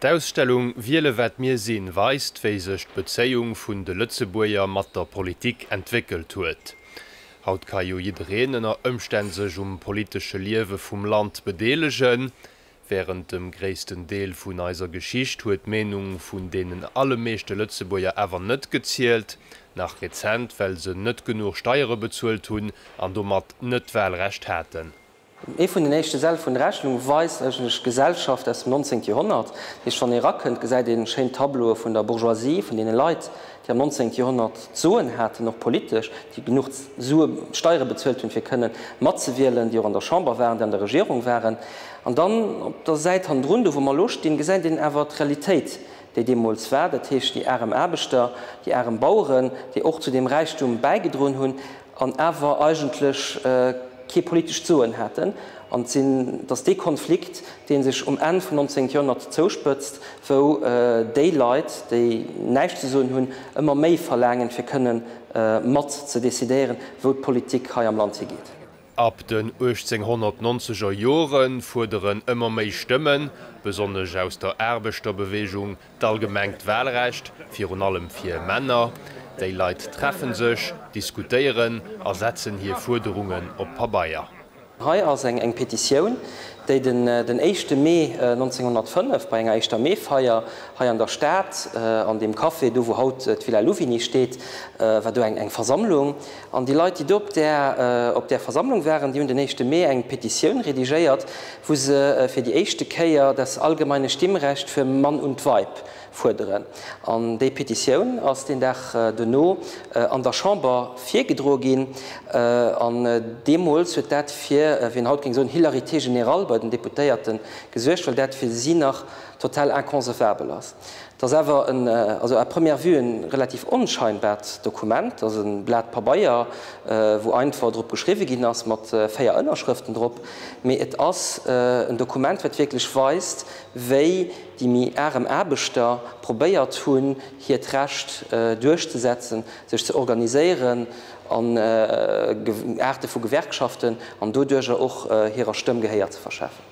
D'Ausstellung Wiele wat mir sinn weist, wéi sech d'Bezéiung vun de Lëtzebuerger mat der Politik entwéckelt huet. Haut ka jo jiddereen ënner Ëmstänn sech um politesche Liewe vum Land bedeelegen. Wärend dem gréissten Deel vun eiser Geschicht huet d'Meenung vun deenen allemeeschte Lëtzebuerger awer net gezielt. Nach rezent, well se net genuch Steiere bezuelt hunn an domat net d'Wahlrecht haten. Ee vun den éischte Säll vun der Rechnung weist eigentlech d'Gesellschaft aus dem 19. Joerhonnert. Dat heescht, wann ee erakënnt, gesäit een schéin Tableaue vun der Bourgeoisie, vun deene Leit, déi am 19. Joerhonnert d'Soen haten, och politesch, déi genuch Sue, Steiere bezuelt hunn, fir kënnen matzewielen, déi och an der Chamber waren, déi an der Regierung waren. An dann op der Säit hannendrun, do wou mer elo stinn, gesäit een awer d'Realitéit, déi deemools war, dat heescht déi arem Aarbechter, déi arem Baueren, déi och zu deem Räichtum bäigedroen hunn. an awer eigentlech kee politescht Soen haten, an datt dee Konflikt, dee sech um Enn vum 19. Joerhonnert zouspëtzt, wou déi Leit, déi näischt ze soen hunn, ëmmer méi verlaangen, fir kënne mat ze decidéieren, wou d'Politik hei am Land higeet. Ab den 1890 er Jore fuerderen ëmmer méi Stëmmen, besonnesch aus der Aarbechterbewegung, D'allgemengt Wahlrecht, virun allem fir Männer, déi Leit treffen sech, diskutéieren a setzen hir Fuerderungen op Pabeier. Hei ass eng eng Petitioun, déi den den éischte Mee 1905 bei enger éischter Meefeier hei an der Stad, an deem Café do wou haut d'Villa Louvigny steet, war do eng eng Versammlung, An déi Leit, déi do op där op där Versammlung waren, déi hunn den éischte Mee eng Petitioun redigéiert, wou se fir déi éischte Kéier das allgemeine Stimmrecht für Mann und Weib fuerderen. An déi Petitioun ass deen Dag duerno an der Chamber virgedroe ginn. An deemools huet dat fir, wéi een haut géing soen, Hilarité générale bei den Deputéierte gesuergt, well dat fir si nach total inconcevabel ass. Et ass awer en, also à première vue, en relativ onscheinbart Dokument, ass en Blat Pabeier wou einfach drop geschriwwen ginn ass mat 4 Ënnerschrëften drop, mee et ass en Dokument wat wierklech weist wéi déi méi arem Aarbechter probéiert hunn hiert Recht duerchzesetzen, sech ze organiséieren an Aarte vu Gewerkschaften an doduercher och hirer Stëmm Gehéier ze verschafen.